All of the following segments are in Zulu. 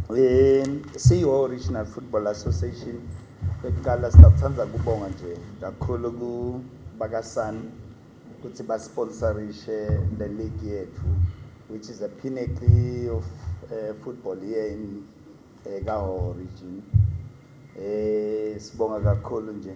Um siyiwo Original Football Association yokuqala sithanda kubonga nje kakhulu kubakaSan ukuthi basponsorishe le league yethu which is a pinnacle of uh, football here in uh, eh, Kaho region. Eh sibonga kakhulu nje.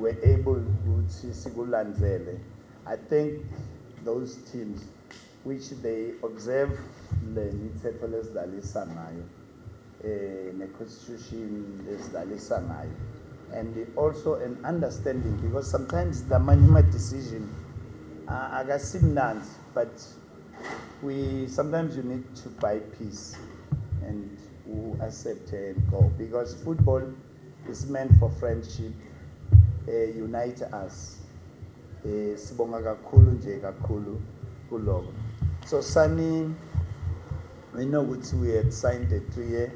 were able ukuthi sikulandzele I think those teams which they observe le mithetho lesidlalisa ngayo eh ne constitution lesidlalisa ngayo and also an understanding because sometimes the management decision uh, akasimnandi but we sometimes you need to buy peace and u accept and go because football It's meant for friendship eh unite us eh sibonga kakhulu nje kakhulu kuloko so sani we know ukuthi we had signed a three year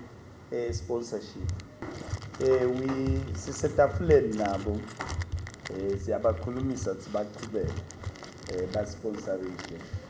eh sponsorship eh we sisetafuleni nabo eh siyabakhulumisa ukuthi baqhubeke eh basponsorishe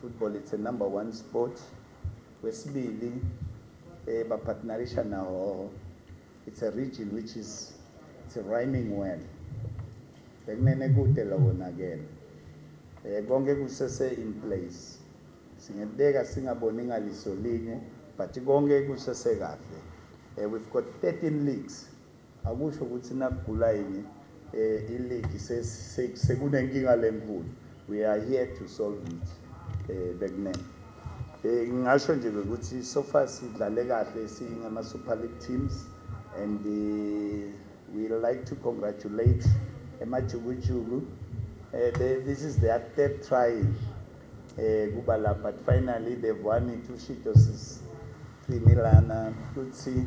Football it's a number one sport. Kwesibili eh ba partnerisha nawo it's a region which is it's rhyming well. Bekunene kude lokho nakele. Eh konke kusese in place. Singebeka singaboni ngaliso linye but konke kusese kahle. Eh we've got 13 leagues. Akusho ukuthi nakugula yini iligi sekunenkinga lenkulu we are here to solve it bekunene ngingasho nje ukuthi so far sidlale kahle singama Super League teams and uh, we like to congratulate emajukujuku uh, this is their third try eh kuba la but finally they've won it ushito sisini lana futhi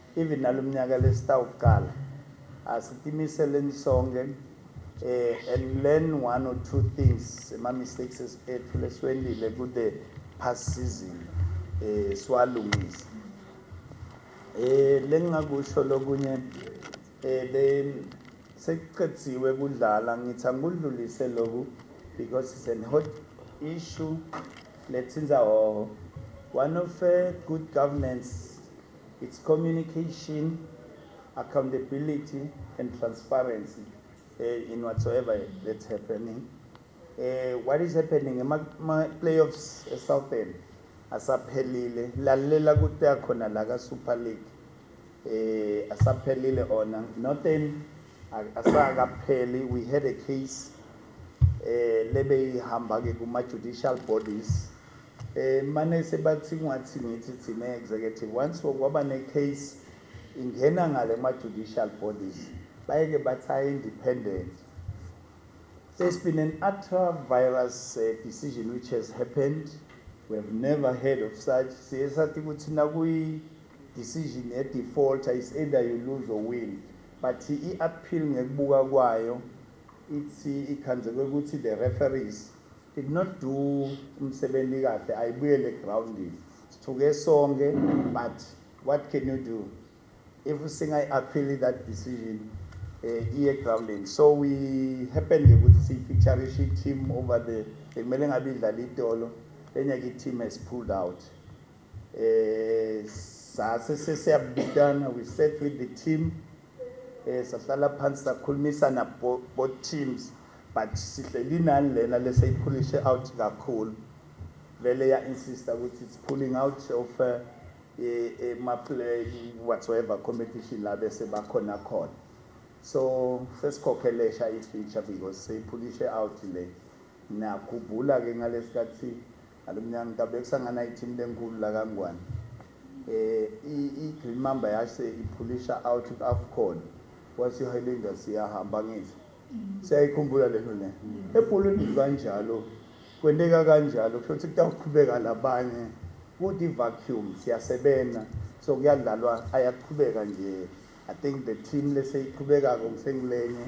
Even nalomnyaka lesitawuqala asitimiselen sonke eh, and learn one or two things ema mistakes ethu leswendile ku the past season eh, siwalungise eh, lengingakusho lokunye eh, le sekuqediwe kudlala ngithi angikudlulise loku because it's an hot issue lethinza hoho one of uh, good governance It's communication, accountability and transparency uh, in whatsoever that's happening. Uh, what is happening ema-playoffs esouthern asaphelile lalela kuta khona la ka-super league eh asaphelile ona northern asakapheli we had a case eh lebe ihamba ke kuma judicial bodies Manese bathi kungathi ngithi thina executive once kwaba ne case ingena ngale kuma judicial bodies bayeke bathi I independent there's been an ultra virus uh, decision which has happened we have never heard of such siye sathi ukuthi nakuyi decision ye defaulter is either you lose or win but i appeal ngekubuka kwayo ithi ikhandzekwe ukuthi the referees Did not do umsebenzi kahle ayibuyele groundini sithuke sonke but what can you do if singayi appeal that decision eh, iye grounding so we happen ke ukuthi siyifeaturishe i-team over the bekumele ngabe idlala itolo enye ke i-team has pulled out eh sase sesiyabitana we set with the team Eh sahlala phansi sakhulumisana both teams but sihleli nani lena leseyiphulishe out kakhulu vele ya insista ukuthi it's pulling out of eh, eh, eh ma play whatsoever competition la bese bakhona khona so sesikhokhelesha i feature because seyiphulishe out le nakhumbula ke ngalesikhathi Ngalomnyaka iNkab kusangana iteam lenkulu lakaNgwane. IGreen Mamba yase iphulisha out kwiAfcon kwase iHighlanders seyahamba angithi siyayikhumbula lento le. Ebholweni kukanjalo kwenteka kanjalo kusho ukuthi kutawuqhubeka labanye kude ivacuum siyasebenza so kuyadlalwa ayaqhubeka nje I think the team leseyiqhubekako ngisengilenye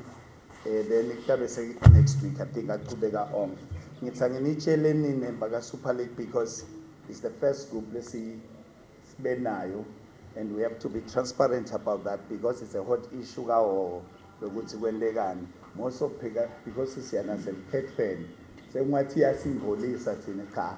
Eh then kuyabe seki next week I think aqhubeka on. Ngithi anginitshele nini baka Super League because it's the first group lesi sibenayo and we have to be transparent about that because it's a hot issue kawowo lokuthi kwentekani most of because siyana seliphethweni sengathi iyasingcolisa thina cha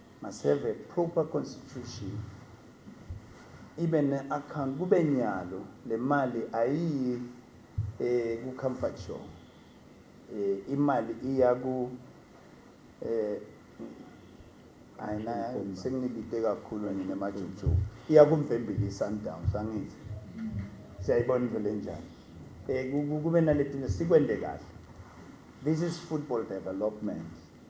Must have a proper constitution ibe ne account kube nyalo le mali ayiyi eh ku comfort show eh imali iya ku eh ayina sengilibite kakhulu nina majuju iya kumvembili sundowns angithi siyayibona into lenjani eh kube naletinto sikwende kahle this is football development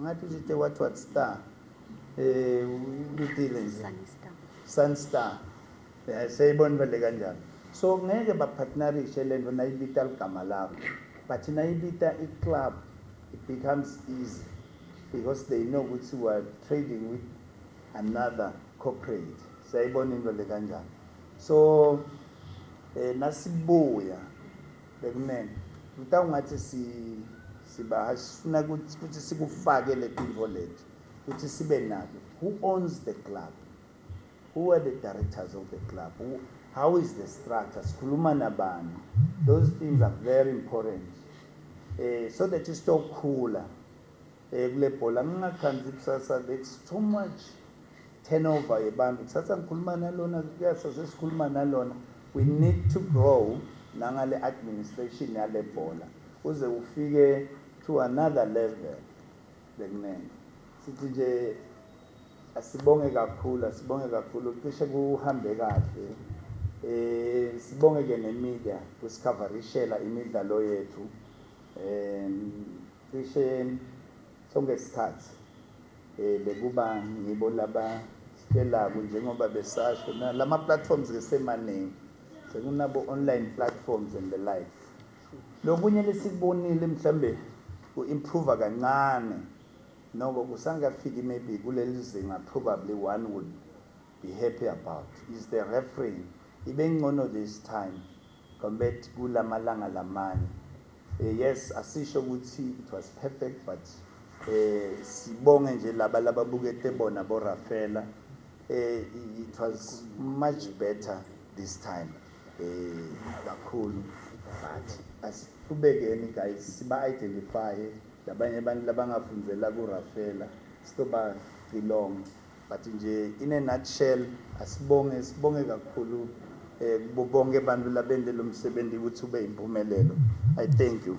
Ngathi uJite what what star. Eh uthile nje. Sunstar. Sunstar. Eh seyibona vele kanjalo. So ngeke ba partnerishe lento nayibita ligama lakho. But nayibita i club it becomes easy because they know ukuthi we are trading with another corporate. Seyibona into le kanjalo. So eh nasibuya Bekumele. Mta ungathi si sibahashi sifuna ukuthi sikufake letintfo leti ukuthi sibe nako who owns the club who are the directors of the club who, how is the structure sikhuluma nabani those things are very important eh so that istokhula Eh kule bhola ngingathandi ikusasa let's too much turnover yebantu kusasa ngikhuluma nalona kuyasa sesikhuluma nalona we need to grow nangale administration yale bhola uze ufike to another level bekunene sithi nje asibonge kakhulu asibonge kakhulu cishe kuhambe kahle eh sibonge ke nemedia kusikhavarishela imidlalo yethu eh Cishe sonke isikhathi bekuba ngibo laba sitshelaku njengoba besasho na lama platforms ke semaningi sekunabo online platforms and the like lokunye lesikubonile mhlambe ku improve kancane noko kusangafiki maybe kulelizinga probably one would be happy about is the refereeing ibengcono this time Combet kulamalanga lamane eh, yes asisho ukuthi it was perfect but eh sibonge nje laba lababukete bona bo Rafela eh it was much better this time eh kakhulu but asibekeni guys siba identify labanye abantu labangafundzela ku Rafela stoba cilonga But nje in a nutshell asibonge sibonge kakhulu eh, kubo bonke abantu labente lomsebenzi ukuthi ube impumelelo. I thank you.